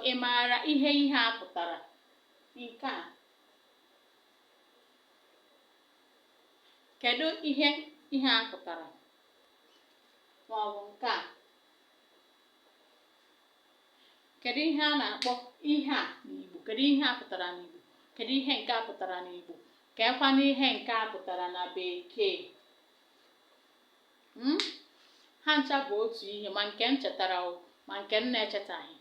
Ị maara ihe ihe a pụtara? Nke a. Kedu ihe ihe a pụtara? Ma ọ bụ nke a. Kedu ihe a na-akpọ ihe a n'Igbo? Kedu ihe a pụtara n'Igbo? Kedu ihe nke a pụtara n'Igbo? Keekwanụ ihe nke a pụtara na Bekee? Hmm? ha ncha bụ otu ihe ma nke m chetara ma nke m na-echetaghị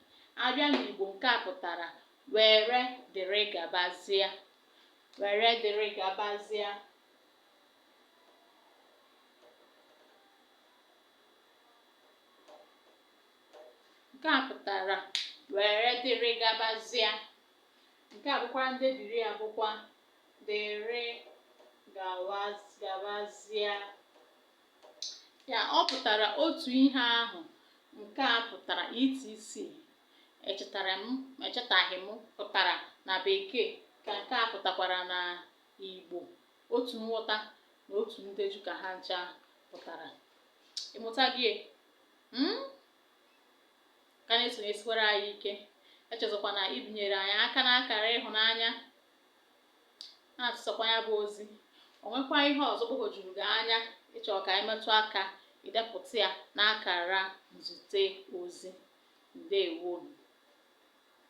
a bịa n'igbo nke a pụtara were dịrị gabazịa were dịrị gabazịa nke a pụtara were dịrị gabazịa nke a bụkwa ndebiri ya bụkwa dịrị gabazia. Ya ọ pụtara otu ihe ahụ nke a pụtara etc. Echetara m echetaghị m pụtara na bekee ka nke a pụtakwara na Igbo otu nghọta na otu ndeju ka ha ncha pụtara ị mụtago e? hmm? ka na-esonyesikwara anyị ike echezọkwana ibinyere anyị aka n'akara ịhụnanya na-atụsakwa ya bụ ozi o nwekwa ihe ọzọ gbagwojuru gị anya ị chọrọ ka anyị metụ aka i depụta ya n'akara nzute ozi ndewonụ